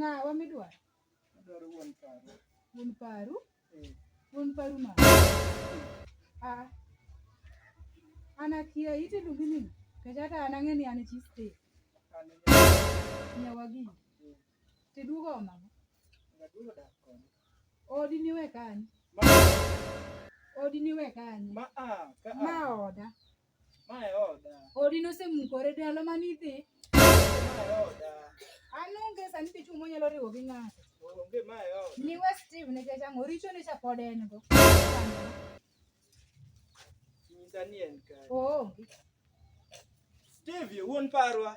Ng'awa midwaro? Adwaro wuon paru. Wuon paru? Eh. Wuon paru ma? Ah. An akia ite luongi ni kech hata an ang'e ni an chi state. Nyawagi. Tiduogo onamo. Gaduogo dak koni. Odi niwe kanyo. Ma Odi niwe kanyo. ma a ka a. Ma oda. Ma e oda. Odi nosemukore dalo mane idhi. Ma e oda. An onge sani dichung' monyalo riwo gi ng'ato. Onge ma e oda. Niwe Steve nikech ang'o richo ne cha pod en go. Nyisa ni en kare. Oonge. Steve wuon parwa.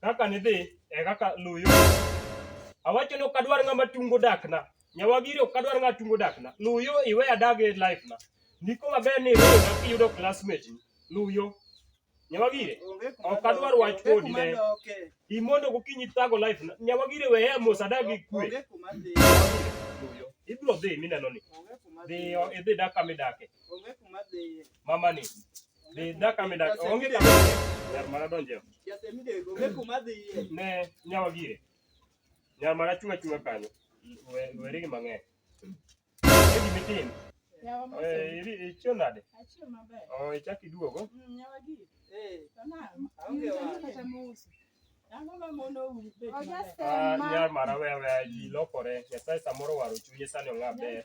Kaka nidhi e kaka luw yo. Awacho ni ok adwar ng'ama tungo dakna. Nyawagiri ok adwar ng'ama tungo dakna. Luw yo iwe adag e life na. Ndiko maber ni iwe na kiyudo classmate ni. Luw yo. Nyawagiri ok adwar wach kodi ne. Imondo gokinyi thago life na. Nyawagiri we ya mos adag gi kwe. Luw yo. Ibiro dhi mineno ni. Dhiyo idhi dak kama idake. Mama ni. Dhi daka mi daka. Onge dhi. Nyar mara donje. Onge kuma dhi. Ne nyawa gire. Nyar mara chunga chunga kanyo. Weri gi mang'eny. Edi mitin. Eh, iri ichio nade? Achio maber. Oh, ichaki duogo. Mm, nyawa gire. Eh. Tama. Onge wa. Ah, nyar mara wewe ji lokore nyasaye samoro waro chunye sani ong'a ber